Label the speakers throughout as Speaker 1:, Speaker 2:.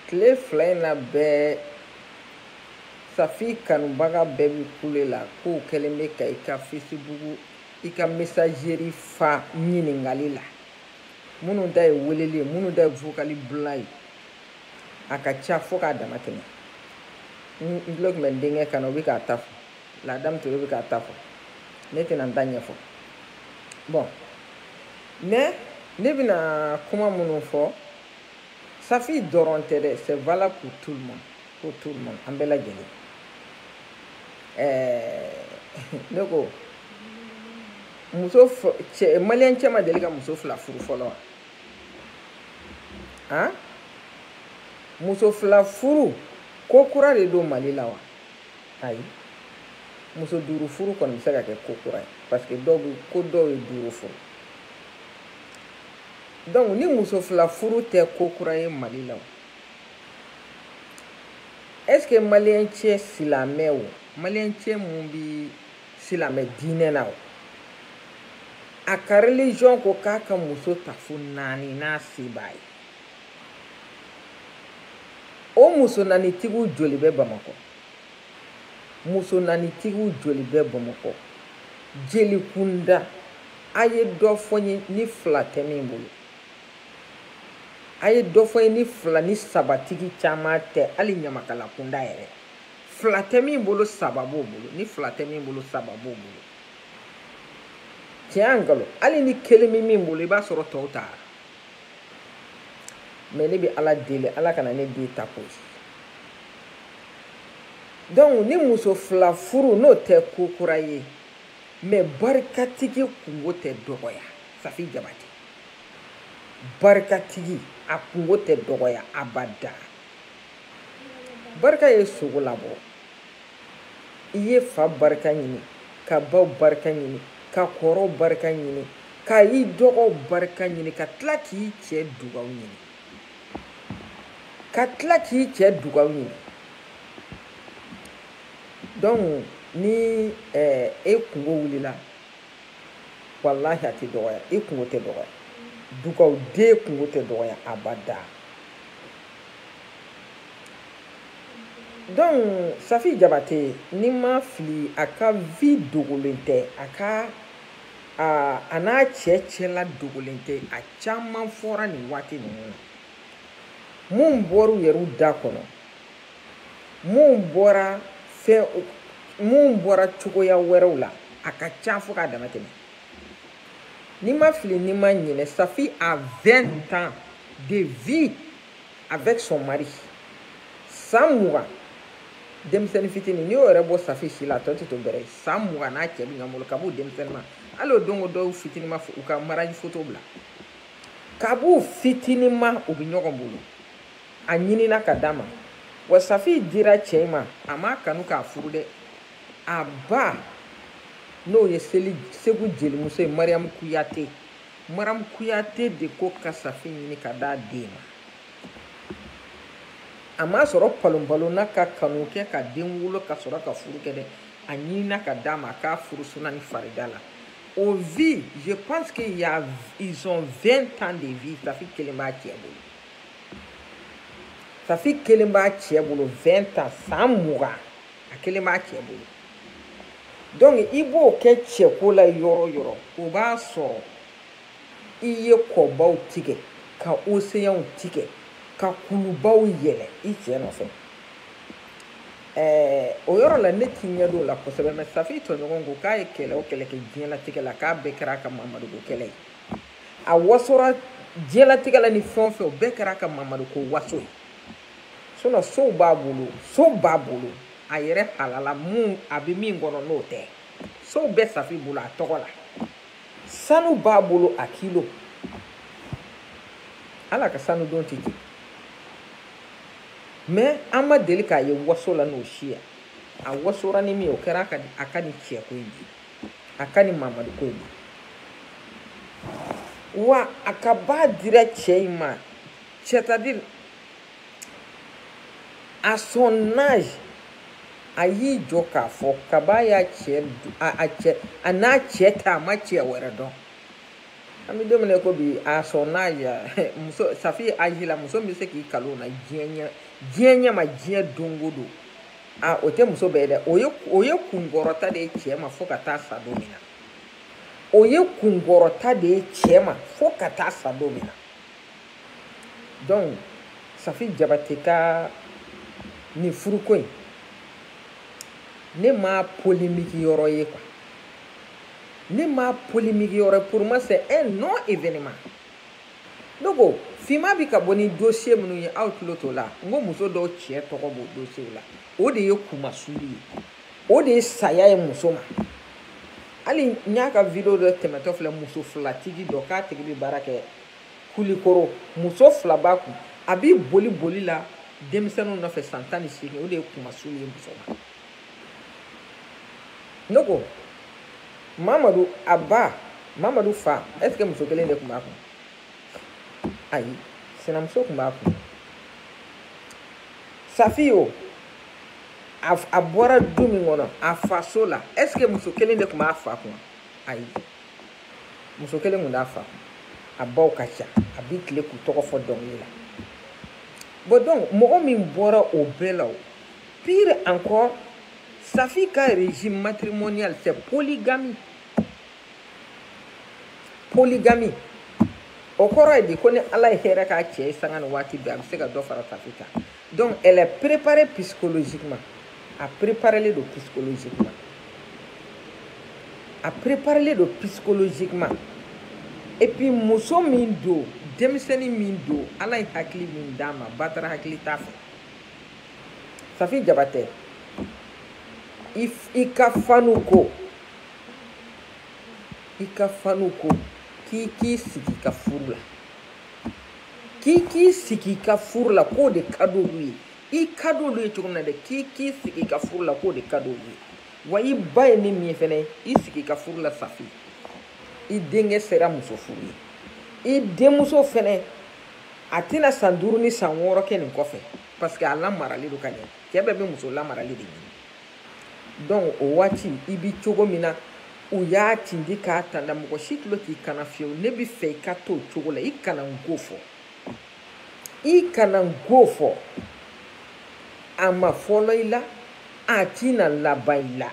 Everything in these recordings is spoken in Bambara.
Speaker 1: tile fila in na bɛɛ safi kanubaga bɛɛ bɛ kule la k'o kɛlen bɛ ka i ka fesibugu i ka mesazeri fa ɲininkali la minnu ta ye weleli ye minnu ta ye vokali bila ye a ka ca fo k'a dama tɛmɛ n tulo tun bɛ n denkɛ kan na o bɛ k'a ta fɔ ladamu ture bɛ k'a ta fɔ ne tɛna n ta ɲɛfɔ bon mais ne bɛna kuma minnu fɔ safi dɔrɔn tɛ dɛ c'est valable pour tout le monde pour tout le monde an bɛɛ lajɛlen ɛɛ ne ko muso cɛ maliyɛn cɛ ma deli ka muso fila furu fɔlɔ wa han muso fila furu ko kura de don mali la wa ayi muso duuru furu kɔni bɛ se ka kɛ ko kura ye parce que dɔw bɛ ko dɔw ye duuru furu donc ni muso fila furu tɛ ko kura ye mali la est ce que maliyɛn cɛ silamɛ o maliyɛn cɛ mun bi silamɛ diinɛ na o a ka religion ko k'a ka muso ta fo naani n'a se b'a ye o muso naanitigiw joli bɛ bamakɔ muso naanitigiw joli bɛ bamakɔ jeli kunda a ye dɔ fɔ n ye ni fila tɛ min bolo a ye dɔ fɔ n ye ni fila ni sabatigi caman tɛ hali ɲamakala kunda yɛrɛ fila tɛ min bolo saba b'o bolo ni fila tɛ min bolo saba b'o bolo tiɲɛ nkalon hali ni kelen bɛ min bolo i b'a sɔrɔ tɔw taara mais ne bɛ ala deli ala kana ne den ta ko donc ni muso fila furu n'o tɛ ko kura ye mais barikatigi kunko tɛ dɔgɔya safi jabate barikatigi a kunko tɛ dɔgɔya abada barika ye sogo labɔ i ye fa barika ɲini ka baw barika ɲini ka kɔrɔw barika ɲini ka i dɔgɔw barika ɲini ka tila k'i cɛ dugaw ɲini ka tila k'i cɛ dugaw ɲini donc ni eh, e kunko wulila walahi a tɛ dɔgɔya i kunko tɛ dɔgɔya dugaw den kunko tɛ dɔgɔya abada donc safi jabate ni n ma fili a ka vie dogolen tɛ a ka a n'a cɛ cɛla dogolen tɛ a caman fɔra nin waati ninnu na mun bɔr'u yɛrɛw da kɔnɔ mun bɔra fɛn mun bɔra cogoya wɛrɛw la a ka ca fo k'a dama tɛmɛ ni n ma fili ni n ma ɲinɛ safi a 20 ans de vie avec son mari san mugan denmisɛnnin fitini n'i y'o yɛrɛ bɔ safi si la a tɔ tɛ to bɛrɛ ye san mugan n'a cɛ bɛ ɲɔgɔn bolo kab'u denmisɛnninma hali o don ko dɔw fitini ma u ka maraji foto bila kab'u fitinima u bɛ ɲɔgɔn bolo a ɲinina ka d'a ma wa safi dira cɛ in ma a m'a kanu k'a furu dɛ a ba n'o ye segu jelimuso ye mariyamu kuyate maram kuyate de ko ka safi ɲini ka d'a den ma a m'a sɔrɔ palonpalonna ka kanu kɛ ka den wolo ka sɔrɔ ka furu kɛ dɛ a ɲinina ka d'a ma k'a furu suna ni farida la o vie je pense que y a ils ont 20 ans de vie safi kelen b'a cɛ bolo safi kelen b'a cɛ bolo 20 ans san mugan a kelen b'a cɛ bolo donc i b'o kɛ cɛko la yɔrɔ yɔrɔ o b'a sɔrɔ i ye kɔbaw tigɛ ka oseyanw tigɛ ka kulubaw yɛlɛ i cɛ nɔfɛ ɛɛ o yɔrɔ la ne t'i ɲɛ don o la kosɛbɛ mais safi tɔɲɔgɔn ko k'a ye kɛlɛ o kɛlɛ kɛ diɲɛlatigɛ la k'a bɛɛ kɛra a ka mamadu ko kɛlɛ ye a wasora diɲɛlatigɛ la ni fɛn o fɛn o bɛɛ kɛra a ka mamadu ko waso ye sinon sow b'a bolo so b'a bolo a yɛrɛ halala mun a bɛ min kɔnɔ n'o tɛ sow bɛ safi bolo a tɔgɔ la sanu b'a bolo a kilo ala ka sanu don tɛ jigin mais an ma deli k'a ye waso la n'o si ye a wasora ni min ye o kɛra a ka nin cɛko in de a ka nin mamadu ko in de wa a kab'a dira cɛ in ma c'est-à-dire à son âge a y'i jɔ k'a fɔ kab'a y'a cɛ a cɛ a n'a cɛ ta a ma cɛ wɛrɛ dɔn an bɛ don min na ko bi à son âge muso safi âge la muso min bɛ se k'i kali o na diɲɛ ɲɛ diɲɛ ɲɛ ma diɲɛ don o don a o tɛ muso bɛɛ dɛ o ye o ye kunkɔrɔta de ye cɛ ma fo ka taa sa don min na o ye kunkɔrɔta de ye cɛ ma fo ka taa sa don min na donc safi jabate ka nin furuko in ne ma polemiki yɔrɔ ye quoi ne ma polemiki yɔrɔ pour moi c'est un non événement donc finma bi ka bɔ ni dossier minnu ye aw tulo t'o la n ko muso dɔw cɛ tɔgɔ b'o dossier la o de ye kunmasuli ye o de ye saya ye muso ma hali n y'a ka video dɔ tɛmɛtɔ filɛ muso filatigi dɔ k'a tigi bɛ baara kɛ kulikoro muso fila b'a kun a bi boli boli la denmisɛnninw nɔfɛ san tan ni seegin o de ye kuma surun ye muso ma n'o kɔ mamadu a ba mamadu fa est ce que muso kelen de tun b'a kun ayi sinamuso tun b'a kun safi o a bɔra du min kɔnɔ a faso la est ce que muso kelen de tun b'a fa kun ayi muso kelen kun t'a fa a baw ka ca a bi tilen k'u tɔgɔ fɔ dɔnkili la bon donc mɔgɔ min bɔra o bɛɛ la o pire encore safi ka régime matrimonial c'est polygamie polygamie o kɔrɔ ye di ko ni ala ye hɛrɛ k'a cɛ ye sanga ni waati bɛɛ a bɛ se ka dɔ fara safi kan donc elle est préparée psychologiquement a préparelen don psychologiquement a préparelen don psychologiquement et puis muso min don denmisɛnni min don ala ye hakili min d'a ma batara hakili t'a fɛ safi jabate i ka fanw ko i ka fanw ko k'i k'i sigi i ka furu la k'i k'i sigi i ka furu la k'o de ka d'olu ye i ka d'olu ye cogo min na dɛ k'i k'i sigi i ka furu la k'o de ka d'olu ye wa i ba ye ne min ye fɛnɛ i sigi i ka furu la safi i denkɛ sera muso furu ye i denmuso fɛnɛ a tɛna san duuru ni san wɔɔrɔ kɛ nin kɔfɛ parce que a lamaralen don ka ɲɛ cɛ bɛɛ bɛ muso lamaralen de ɲini donc o waati i bi cogo min na u y'a tindi k'a tanda mɔgɔ si tulo t'i kan na fiyewu ne b'i fɛ i ka to o cogo la i kana n ko fɔ i kana n ko fɔ a ma fɔlɔ i la a tina laban i la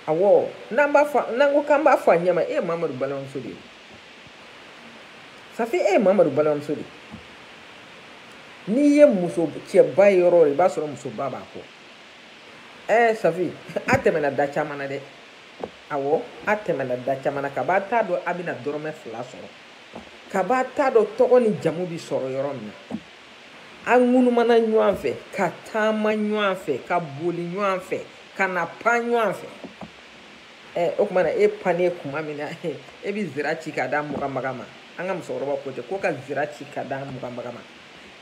Speaker 1: awɔ n'an b'a fɔ n'an ko k'an b'a fɔ a ɲɛma e ye mamadu balimamuso de ye safi e ye mamadu balimamuso de ye n'i ye muso cɛba ye yɔrɔ o yɔrɔ i b'a sɔrɔ musoba b'a kɔ ɛɛ safi a tɛmɛna da caman na dɛ awɔ a tɛmɛna da caman na kab'a t'a dɔn a bɛna dɔrɔmɛ fila sɔrɔ kab'a t'a dɔn tɔgɔ ni jamu bɛ sɔrɔ yɔrɔ min na an ŋunumana ɲɔgɔn fɛ ka taama ɲɔgɔn fɛ ka boli ɲɔgɔn fɛ ka na pan ɲɔgɔn fɛ ɛɛ o tuma na e pannen kuma min na e bɛ zira ci k'a d'a muganbaga ma an ka musokɔrɔbaw ko ten ko ka zira ci k'a d'a muganbaga ma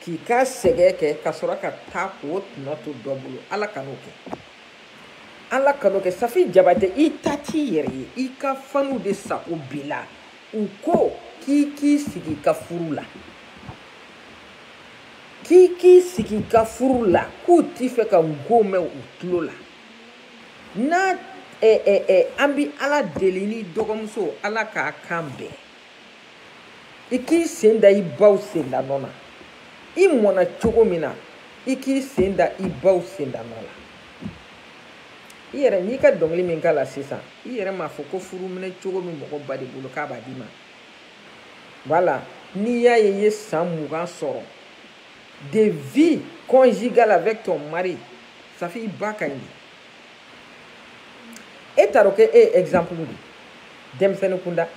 Speaker 1: k'i ka sɛgɛn kɛ ka sɔrɔ ka taa k'o tɔnɔ to dɔ bolo ala kan'o kɛ ala kan'o kɛ safi jabate i ta t'i yɛrɛ ye i ka fanw de sago b'i la u ko k'i k'i sigi i ka furu la k'i k'i sigi i ka furu la k'u t'i fɛ ka n ko mɛn u tulo la n'a eh, eh, eh, an bɛ ala deli ne dɔgɔmuso ala k'a kan bɛn i k'i sen da i baw sendanɔ na i mɔna cogo min na i k'i sen da i baw sendanɔ la i yɛrɛ n'i ka dɔnkili min k'a la sisan i yɛrɛ m'a fɔ ko furu minɛcogo bɛ mɔgɔ ba de bolo k'a b'a d'i ma voilà n'i y'a ye i ye san mugan sɔrɔ de vie conjugale avec ton mari safi i ba ka ɲi e taro kɛ e exemple di denmisɛnnin kunda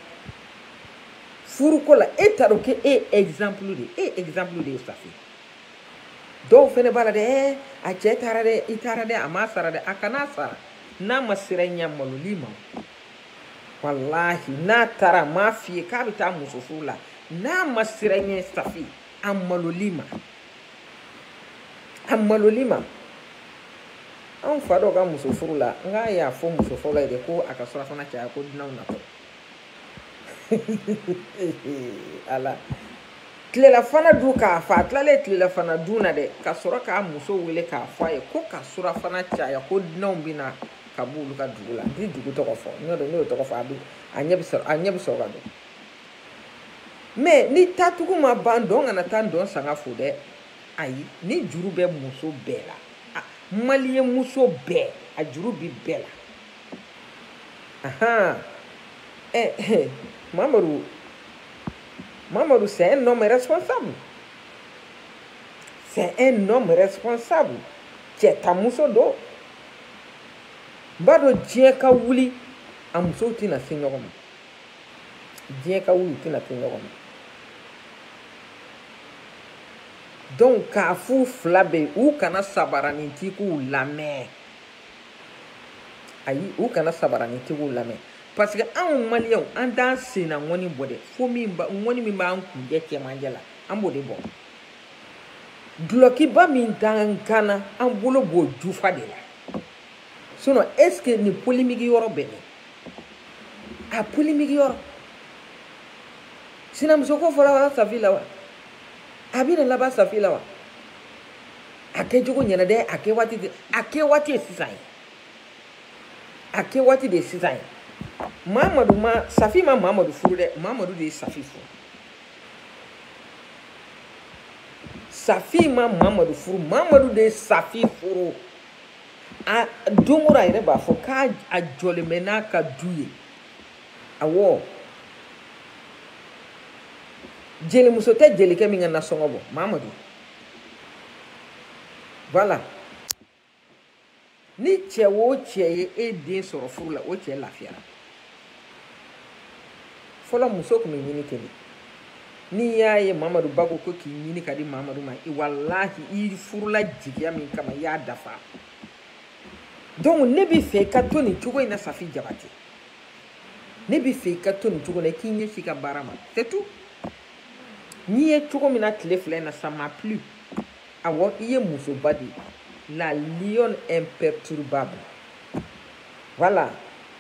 Speaker 1: furu ko la e taro kɛ e exemple di e exemple di safi dɔw fɛnɛ b'a la dɛ eh, a cɛ taara dɛ i taara dɛ a ma sara dɛ a kana sara n'a ma siran i ɲɛ a malol'i ma walahi n'a taara a m'a f'i ye k'a bɛ taa muso furu la n'a ma siran i ɲɛ safi a malol'i ma a malol'i ma anw fa dɔw ka muso furu la nk'a y'a fɔ muso fɔlɔ ye de ko a ka surafana caya ko dunanw natɔ a la tilelafana dun ka fa a tilalen tilelafana dun na dɛ ka sɔrɔ k'a muso wele k'a fɔ a ye ko ka surafana caya ko dunanw bɛ na ka b'olu ka dugu la n tɛ dugu tɔgɔ fɔ n'o tɛ n'o tɔgɔ fɔ a bɛ a ɲɛ bɛ sɔrɔ a ɲɛ bɛ sɔrɔ k'a dɔn mais ni tatugu ma ban dɔ kana taa dɔ sanga fo dɛ ayi nin juru bɛ muso bɛɛ la maliyɛn muso bɛɛ a juru bi bɛɛ la ahan ɛ eh, ɛ eh, mamadu mamadu c'est un homme responsable c'est un homme responsable cɛ ta muso don n b'a dɔn diɲɛ ka wuli a musow tɛna se ɲɔgɔn ma diɲɛ ka wuli u tɛna se ɲɔgɔn ma donc k'a f'u fila bɛɛ u kana sabaranitigiw lamɛn ayi u kana sabaranitigiw lamɛn parce que anw maliyɛnw an t'an senna ŋɔni bɔ dɛ fo ŋɔni min b'an kuncɛ cɛmancɛ la an b'o de bɔ dulɔkiba min t'an kan na an bolo b'o jufa de la sinon est ce que nin polémique yɔrɔ bɛ min a polémique yɔrɔ sinamuso ko fɔra wa safi la wa a bɛna laban safi la wa a kɛcogo ɲɛna dɛ a kɛ waati de a kɛ waati ye sisan ye a kɛ waati de ye sisan ye mamadu ma safi ma mamadu furu dɛ mamadu de ye safi furu safi ma mamadu furu mamadu de ye safi furu. a don o don a yɛrɛ b'a fɔ k'a jɔlen bɛ n'a ka du ye awɔ jelimuso tɛ jelikɛ min ka nasɔngɔ bɔ mamadu voilà ni cɛ o cɛ ye e den sɔrɔ furu la o cɛ lafiyara fɔlɔ muso tun bɛ ɲini ten de n'i y'a ye mamadu ba ko ko k'i ɲini ka di mamadu ma i walahi i furula jigiya min kama i y'a dafa donc ne bɛ fɛ i ka to nin cogo in na safi jabate ne bɛ fɛ i ka to nin cogo in na i k'i ɲɛsin i ka baara ma surtout n y'i ye cogo min na tile fila in na ça m'a plu awɔ i ye musoba de ye la lionne imperturbable voilà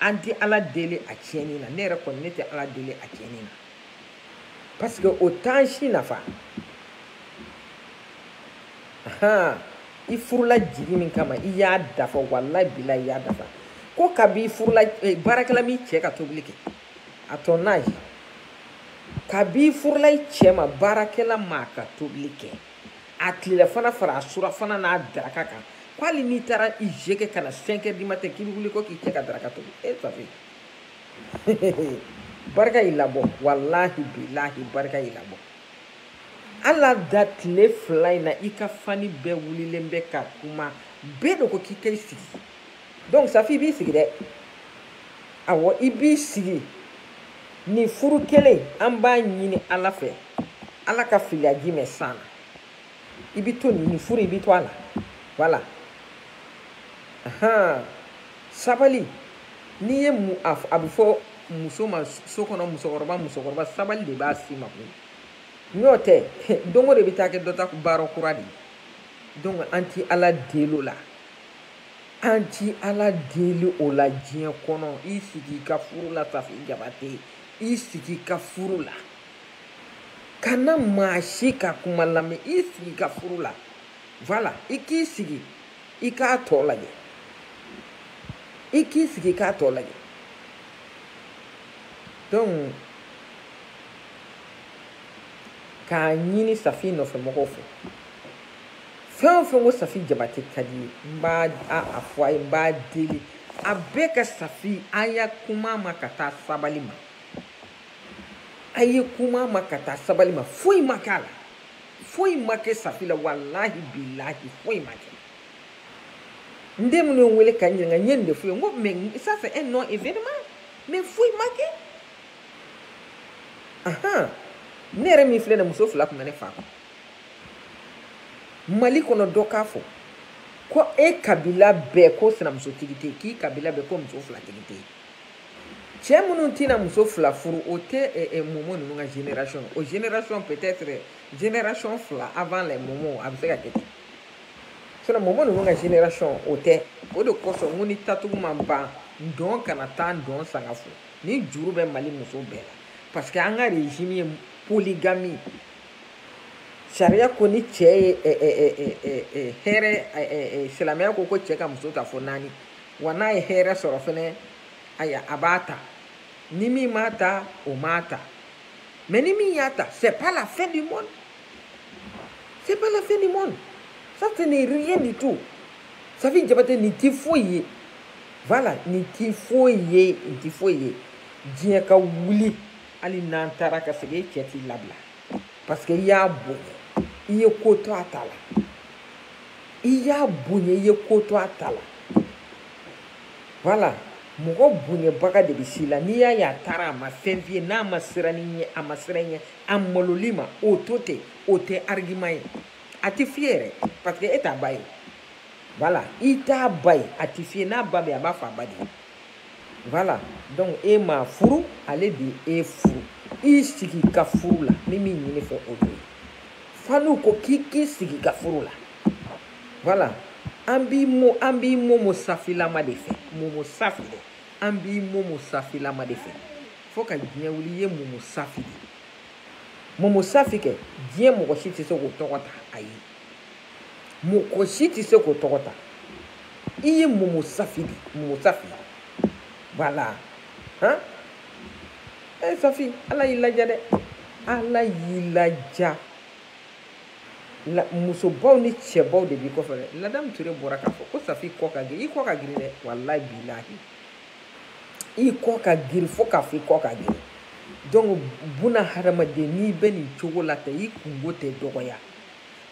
Speaker 1: an tɛ ala deli a tiɲɛni na ne yɛrɛ kɔni ne tɛ ala deli a tiɲɛni na parce que o t'an si nafa han i furula jigi min kama i y'a dafa walayi bilayi i y'a dafa ko kabi i furula eh, baarakɛla m'i cɛ ka tobili kɛ à ton âge kabi i furula i cɛ ma baarakɛla m'a ka tobili kɛ a tilelafana fara a surafana n'a daraka kan ko hali n'i taara i je kɛ ka na cinq heures du matin k'i bɛ wuli ko k'i cɛ ka daraka tobi e safi barika y'i labɔ walahi bilahi barika y'i labɔ ala da tile fila in na i ka fani bɛɛ wulilen bɛ ka kuma bɛɛ de ko k'i ka i sigi donc safi i b'i sigi dɛ awɔ i b'i sigi nin furu kelen an b'a ɲini ala fɛ ala ka filiya ji mɛn san na i bɛ to nin furu i bɛ to a la voilà ahan sabali n'i ye mu a a bɛ fɔ muso ma so kɔnɔ musokɔrɔba musokɔrɔba sabali de b'a si ma koyi n'o tɛ don o don i bɛ taa kɛ dɔ ta baara kura de ye donc an ti ala deli o la. An ti Ala deli o la diɲɛ kɔnɔ i sigi i ka furu la Safi Jabate i sigi i ka furu la kana maa si ka kuma lamɛn i sigi i ka furu la voilà i k'i sigi i k'a tɔ lajɛ i k'i sigi i k'a tɔ lajɛ donc k'a ɲini Safi nɔfɛmɔgɔw fɛ fɛn o fɛn ko safi jabate ka di ye n b'a fɔ a ye n b'a deli a bɛɛ ka safi a ye kuma ma ka taa sabali ma a ye kuma ma ka taa sabali ma foyi ma k'a la foyi ma kɛ safi la walahi bilahi foyi ma kɛ n den minnu ye n wele ka n ɲininka n ye nin de f'u ye n ko mais ça c'est un non événement mais foyi ma kɛ ahan ne yɛrɛ min filɛ nin muso fila tun bɛ ne fa kun mali kɔnɔ dɔ k'a fɔ ko e kabila bɛɛ ko sinamusotigi tɛ k'i kabila bɛɛ ko muso filatigi tɛ cɛ minnu tɛna muso fila furu o tɛ eh, eh, momo ninnu ka génération o génération peut-être génération fila avant les momo a bɛ se ka kɛ ten sinon momo ninnu ka génération o tɛ o de kosɔn n ko ni tatugu ma ban dɔ kana taa dɔ sanga fo nin juru bɛ mali muso bɛɛ la parce que an ka régime ye polygamie sariya ko ni cɛ ye hɛrɛ silamɛya ko ko cɛ ka muso ta fo naani wa n'a ye hɛrɛ sɔrɔ fɛnɛ aya a b'a ta ni min m'a ta o m'a ta mais ni min y'a ta c'est pas la fin du monde c'est pas la fin du monde ça ce n'est rien du tout safi jabate nin ti foyi ye voilà nin ti foyi ye nin ti foyi ye diɲɛ ka wuli hali n'an taara ka segin e cɛ t'i labila parce que i y'a bonya i ye ko to a ta la i y'a bonya i ye ko to a ta la voilà mɔgɔ bonyabaga de bɛ s'i la n'i y'a ye a taara a ma fɛn f'i ye n'a ma siran i ɲɛ a ma siran i ɲɛ a malol'i ma o to ten o tɛ argument ye a tɛ f'i ye yɛrɛ parce que e t'a ba ye voilà i t'a ba ye a tɛ f'i ye n'a ba bɛ yen a b'a fɔ a ba de ye. voilà donc e m'a furu ale de e furu i sigi ka furu la ni min ɲin'i fɛ o de ye faniw ko k'i k'i sigi ka furu la voilà an b'i mo an b'i momo safilama de fɛ momo safi dɛ an b'i momo safilama de fɛ fo ka diɲɛ wuli i ye momo safi de momo safi kɛ diɲɛ mɔgɔ si tɛ se k'o tɔgɔ ta ayi mɔgɔ si tɛ se k'o tɔgɔ ta i ye momo safi de momo safi voilà han e safi ala y'i ladiya dɛ ala y'i ladiya musobaw ni cɛbaw de b'i kɔfɛ dɛ ladamu ture bɔra k'a fɔ ko safi i kɔ ka girin i kɔ ka girin dɛ walayi bilahi i kɔ ka girin fo k'a fɔ i kɔ ka girin donc buna hadamaden n'i bɛ nin cogo la ten i kunko tɛ dɔgɔya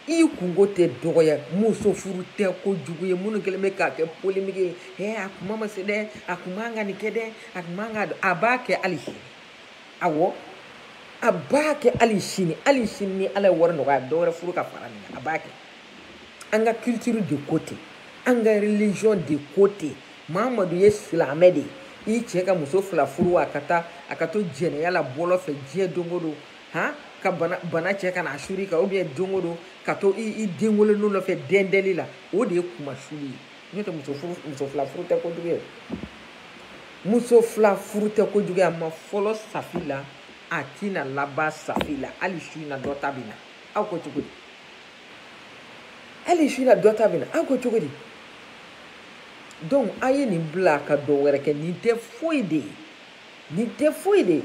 Speaker 1: i kunko tɛ dɔgɔya muso furu tɛ ko jugu ye minnu kɛlen bɛ k'a kɛ polémique ye hɛ a kuma ma se dɛ a kun man ka nin kɛ dɛ a kun man kan a b'a kɛ hali sini awɔ a b'a kɛ hali sini hali sini ni ala ye wari nɔgɔya dɔwɛrɛ furu ka fara nin kan a b'a kɛ an ka culture de ko ten an ka religion de ko ten mamadu ye silamɛ de ye i cɛ ka muso fila furu a ka taa a ka to jɛnɛya la bɔlɔ fɛ diɲɛ don o don han ka bana bana cɛ ka na suri ka ou bien don o don ka to i i den wololenw nɔfɛ dɛndɛli la o de ye kunmasuli ye n'o tɛ muso furu muso fila furu tɛ kojugu ye muso fila furu tɛ kojugu ye a ma fɔlɔ safi la a tɛna laban safi la hali su in na dɔ ta bɛ na aw ko cogo di hali su in na dɔ ta bɛ na aw ko cogo di donc a ye nin bila ka dɔ wɛrɛ kɛ nin tɛ foyi de ye nin tɛ foyi de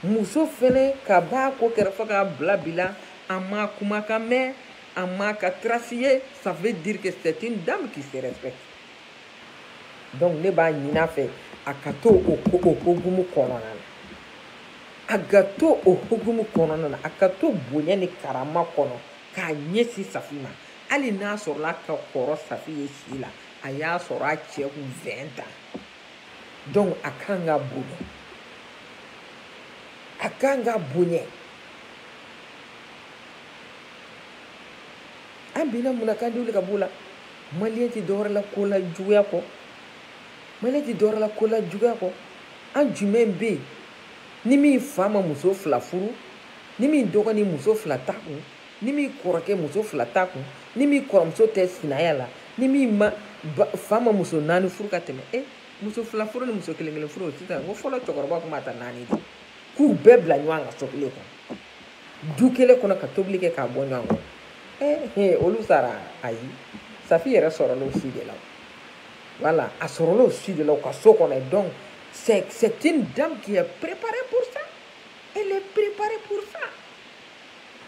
Speaker 1: muso fɛnɛ kab'a ko kɛra fo k'a bila bi la a m'a kumakan mɛn a m'a ka trace ye ça veut dire que c'est une dame qui se respecte donc ne b'a ɲini a fɛ a ka to o ko o hokumu kɔnɔna na a ka to o hokumu kɔnɔna na a ka to bonya ni karama kɔnɔ k'a ɲɛsin safi ma hali n'a sɔrɔla ka kɔrɔ safi ye si la a y'a sɔrɔ a cɛ kun 20 ans donc a kan ka bonya a kan ka bonya an bina mun na kan de wuli ka b'o la maliyɛn tɛ dɔwɛrɛ la kolajuguya kɔ maliyɛn tɛ dɔwɛrɛ la kolajuguya kɔ an jumɛn bɛ yen ni min fa ma muso fila furu ni min dɔgɔnin muso fila t'a kun ni min kɔrɔkɛ muso fila t'a kun ni min kɔrɔmuso tɛ sinaya la ni min ma fa ma muso naani furu ka tɛmɛ e muso fila furu ni muso kelen kelen furu sisan ko fɔlɔ cɛkɔrɔba tun b'a ta naani de k'u bɛɛ bila ɲɔgɔn kan so kelen kɔnɔ du kelen kɔnɔ ka tobili kɛ k'a bɔ ɲɔgɔn kɔnɔ ee olu sara ayi safi yɛrɛ sɔrɔla o si de la voilà a sɔrɔla o si de la u ka so kɔnɔ donc c'est une dame qui est préparée pour ça elle est préparée pour ça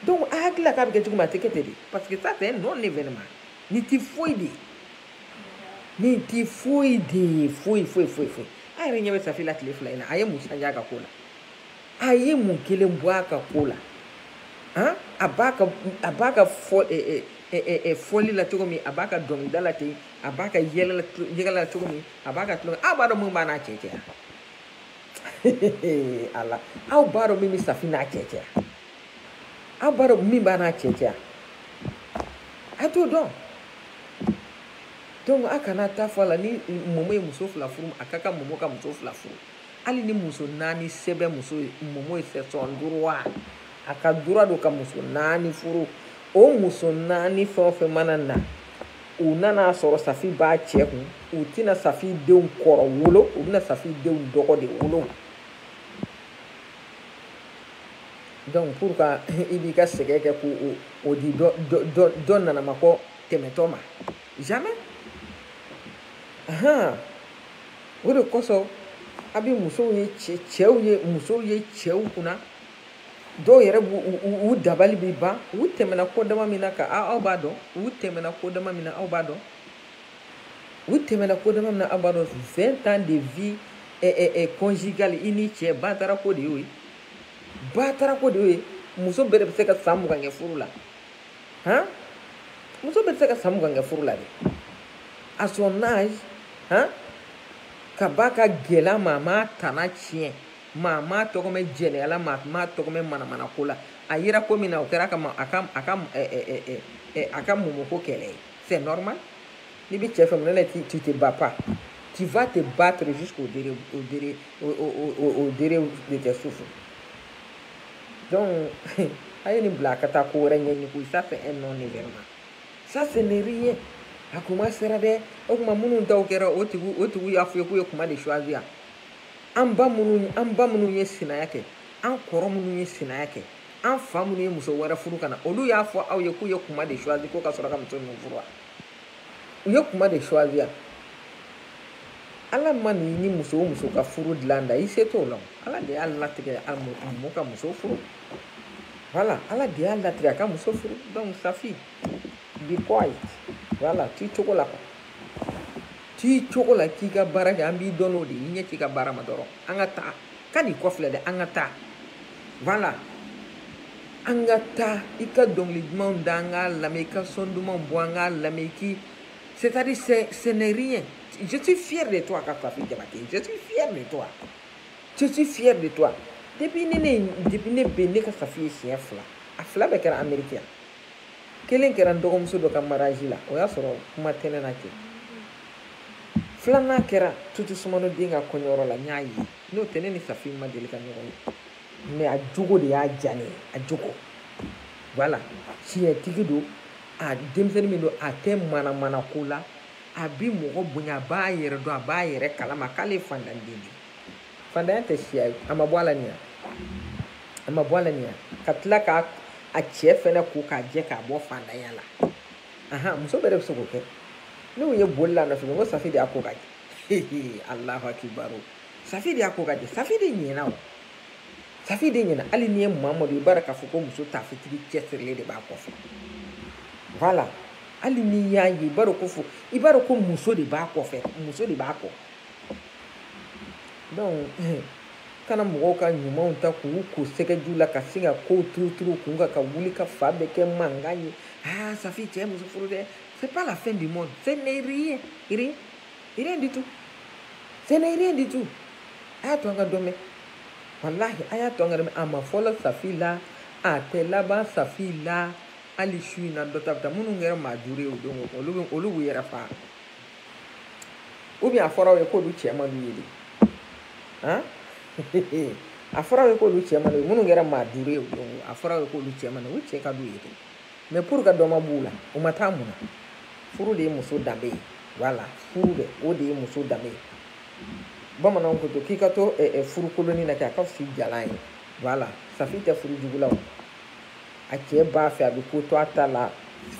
Speaker 1: donc a hakilila k'a bɛ kɛ cogo min a tɛ kɛ ten de parce que ça c'est un non événement nin tɛ foyi de ye nin tɛ foyi de ye foyi foyi foyi foyi a yɛrɛ ɲɛ bɛ safi la tile fila in na a ye mun changé a ka ko la a ye mun kelen bɔ a ka ko la han a b'a ka a b'a ka fɔ ɛ ɛ ɛ fɔli la cogo min a b'a ka dɔnkilida la ten a b'a ka yɛlɛ yɛlɛ la cogo min a b'a ka tulonkɛ aw b'a dɔn mun b'a n'a cɛ cɛ yan. ala aw b'a dɔn min bɛ safi n'a cɛ cɛ aw b'a dɔn min b'a n'a cɛ cɛ a t'o dɔn donc a kana taa fɔ a la ni mɔmɔ ye muso fila furu a ka kan mɔmɔ ka muso fila furu hali ni muso naani sɛbɛn muso ye mɔmɔ ye c'est son droit a ka droit don ka muso naani furu o muso naani fɛn o fɛn mana na u nan'a sɔrɔ safi b'a cɛ kun u tɛna safi denw kɔrɔ wolo u bɛna safi denw dɔgɔ de wolo donc pour ka i b'i ka sɛgɛn kɛ k'o o di dɔ dɔ dɔ nanamakɔ tɛmɛtɔ ma jamais ahan o de kosɔn a bɛ musow ye cɛ cɛw ye musow ye cɛw kunna dɔw yɛrɛ b'u u dabali bɛ ban u tɛmɛna ko dama min na ka aw b'a dɔn u tɛmɛna ko dama min na aw b'a dɔn u tɛmɛna ko dama min na aw b'a dɔn vingt ans de vie eh, eh, eh, conjugale i ni ce batara ko de y'o ye batara ko de y'o ye muso bɛɛ de bɛ se ka san mugan kɛ furu la han muso bɛɛ bɛ se ka san mugan kɛ furu la dɛ à son âge han ka ba ka gɛlɛn maa m'a tana tiɲɛ maa m'a tɔgɔ mɛn jɛnɛya la maa m'a tɔgɔ mɛn manamana ko la a yera ko min na o kɛra ka ma a ka a ka ɛ ɛ ɛ ɛ ɛ a ka momo ko kɛlɛ ye c'est normal n'i bɛ cɛ fɛ mun na tu tu te bats pas tu vas te battre jusqu'au dere au dere au au au dere de tes souffles donc a ye nin bila a ka taa ko wɛrɛ ɲɛɲini koyi ça c'est un non événement ça ce n'est rien a kuma sera dɛ o kuma minnu taw kɛra o tigiw o tigiw y'a fɔ aw ye k'u ye kuma de choisir an ba minnu an ba minnu ye sinaya kɛ an kɔrɔ minnu ye sinaya kɛ an fa minnu ye muso wɛrɛ furu ka na olu y'a fɔ aw ye k'u ye kuma de choisi ko ka sɔrɔ ka muso ninnu furu wa u ye kuma de choisi yan ala mana muso o muso ka furu dilan da i se t'o la ala de y'a latigɛ momo ka muso furu voilà ala de y'a latigɛ a ka muso furu donc safi be quiet voilà t'i cogo la quoi t'i cogo la k'i ka baara kɛ an b'i dɔn n'o de ye i ɲɛsin i ka baara ma dɔrɔn an ka taa kan'i kɔfilɛ dɛ an ka taa voilà an ka taa i ka dɔnkili dumanw da an k'a lamɛn i ka son dumanw bɔ an k'a lamɛn i k'i c'est à dire ce n'est rien je suis fier de toi ka safi jabate je suis fier de toi je suis fier de toi depuis ne ne depuis ne bɛ ne ka safi ye siɲɛ fila a fila bɛɛ kɛra amérique yan kelen kɛra n dɔgɔmuso dɔ ka mariage la o y'a sɔrɔ kuma tɛ ne na ten filanan kɛra tutu sumano den ka kɔɲɔyɔrɔ la n y'a ye n'o tɛ ne ni safi ma deli ka ɲɔgɔn ye mais a jogo de y'a diya ne ye a jogo voilà tiɲɛtigi don a denmisɛnnin min don a tɛ manamana ko la a bi mɔgɔ bonya a b'a yɛrɛ dɔn a b'a yɛrɛ kalama k'ale ye fandanden de fandanya tɛ siya ye a ma bɔ a la nin ya a ma bɔ a la nin ya ka tila k'a a cɛ fɛnɛ ko k'a jɛ k'a bɔ fandanya la ahan muso bɛɛ de bɛ se k'o kɛ ne y'u ye boli la nɔfɛ n ko safi de y'a ko k'a jɛ alahu akibaru safi de y'a ko k'a jɛ safi de ɲɛna o safi de ɲɛna hali n'i ye mamadu i b'a dɔn k'a fɔ ko muso taafetigi cɛsirilen de b'a kɔfɛ voilà hali n'i y'a ye i b'a dɔn ko fo i b'a dɔn ko muso de b'a kɔfɛ muso de b'a kɔ donc eh, kana mɔgɔw ka ɲumanw ta k'u ko sɛgɛji la ka se ka kow turuturu kun na ka wuli ka fan bɛɛ kɛ mankan ye aa ah, safi cɛ muso furu dɛ c'est pas la fin du monde ce n'est rien rien rien du tout ce n'est rien du tout a y'a to an ka dɔ mɛn walahi a y'a to an ka dɔ mɛn a ma fɔlɔ safi la a tɛ laban safi la hali su in na dɔ ta bɛ taa minnu kɛra maa duuru ye o don olu bɛ olu b'u yɛrɛ faga ou bien a fɔra aw ye k'olu cɛ man d'u ye de han a fɔra aw ye k'olu cɛ man d'u ye minnu kɛra maa duuru ye o don a fɔra aw ye k'olu cɛ man d'u ye u cɛ ka d'u ye de mais pourquoi dɔ ma b'u la u ma taa mun na furu de ye muso danbe ye voilà furu de o de ye muso danbe ye bamananw ko to k'i ka to furu kolonnin na kɛ a ka fisa i jalan ye voilà safi tɛ furu jugu la o a cɛ b'a fɛ a bɛ ko to a ta la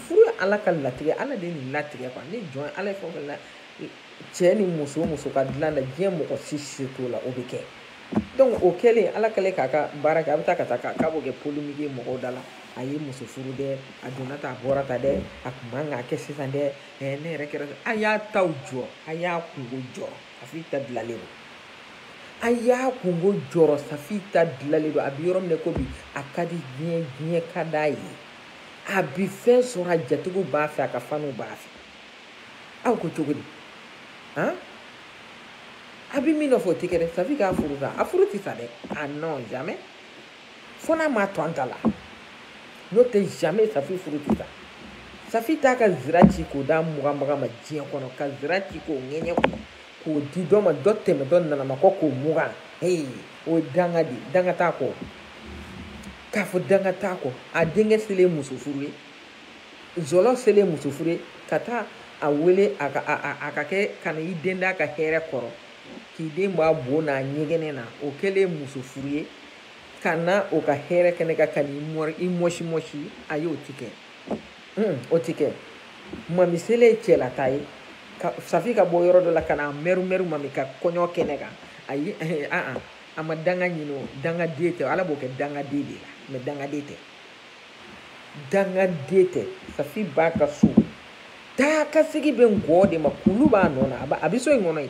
Speaker 1: furu ye ala ka latigɛ ala de ye nin latigɛ quoi ni jɔn ala ye fɛn o fɛn la cɛ ni muso muso ka dilan na diɲɛ mɔgɔ si se t'o la o bɛ kɛ donc o kɛlen ala kɛlen k'a ka baara kɛ a bɛ taa ka taa k'a b'o kɛ polémique ye mɔgɔw da la a ye muso furu dɛ a donna tan a bɔra tan dɛ a kun man k'a kɛ sisan dɛ ne yɛrɛ kɛra a y'a taw jɔ a y'a kunko jɔ safi ta dilalen don a y'a kunko jɔrɔ safi ta dilalen don a bɛ yɔrɔ min na ko bi a ka di diɲɛ diɲɛ ka d'a ye a bi fɛn sɔrɔ a jatigiw b'a fɛ a ka faniw b'a fɛ aw ko cogo di han a bɛ min nɔfɛ o tɛ kɛ dɛ safi k'a furu sa a furu tɛ sa dɛ ah non jamais fo n'a ma to an ta la n'o tɛ jamais safi furu tɛ sa safi t'a ka zira ci k'o d'a muganbaga ma diɲɛ kɔnɔ ka zira ci k'o ŋɛɲɛ kɔnɔ k'o di dɔ ma dɔ tɛmɛ dɔ nanama kɔ k'o mugan ee o ye danga de danga t'a kɔ k'a fɔ danga t'a kɔ a denkɛ selen muso furu ye zɔlɔ selen muso furu ye ka taa a wele a ka a a a ka kɛ ka na i den d'a ka hɛrɛ kɔrɔ k'i den bɔ a bo n'a ɲɛgɛnɛ na o kɛlen muso furu ye ka na o ka hɛrɛ kɛnɛ kan ka i mɔsi mɔsi ayi o ti kɛ hmm, o ti kɛ mami selen cɛlataa ye safi ka bɔ yɔrɔ dɔ la ka na mɛru mɛru mami ka kɔɲɔ kɛnɛ kan ayi aa a ma danga ɲini o dangaden tɛ ala b'o kɛ dangaden de la mais dangaden tɛ dangaden tɛ safi b'a ka so taa ka sigi bɛ ngɔɔ de ma kulu b'a nɔ na a bɛ so in kɔnɔ yen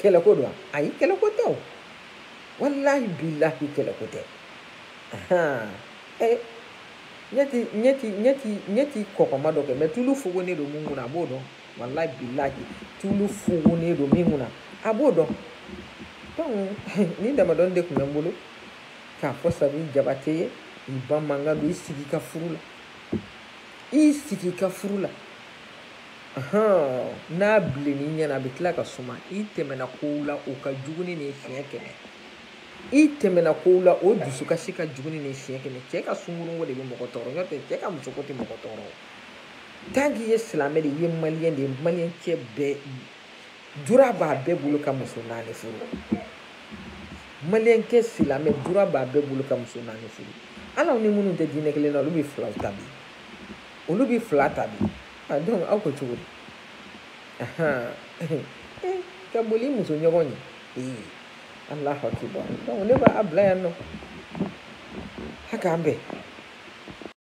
Speaker 1: kɛlɛko don ayi kɛlɛko tɛ o walahi bilahi kɛlɛko tɛ ee ne ti ne ti ne ti ne ti kɔkɔma dɔ kɛ mais tulu fugunen don min kunna a b'o dɔn walahi bilahi tulu fugunen don min kunna a b'o dɔn donc nin damadɔni de tun bɛ n bolo k'a fɔ safi jabate ye i ba mankan don i sigi i ka furu la i sigi i ka furu la n'a bilenni ɲɛna a bɛ tila ka suma i tɛmɛna kow la o ka jugu ni nin siɲɛ kɛmɛ i tɛmɛna kow la o dusukasi ka jugu ni nin siɲɛ kɛmɛ cɛ ka sunkurunko de bɛ mɔgɔ tɔɔrɔ n'o tɛ cɛ ka musoko tɛ mɔgɔ tɔɔrɔ tant k'i ye silamɛ de ye maliyɛn de ye maliyɛn cɛ bɛɛ droit b'a bɛɛ bolo ka muso naani furu maliyɛn cɛ silamɛ droit b'a bɛɛ bolo ka muso naani furu hali aw ni minnu tɛ diinɛ kelen na olu bɛ filaw ta bi olu bɛ fila ta bi donc aw ko cogo di ka boli muso ɲɔgɔn ɲɛ ee allahu akibaru donc ne b'a bila yan nɔ a k'an bɛn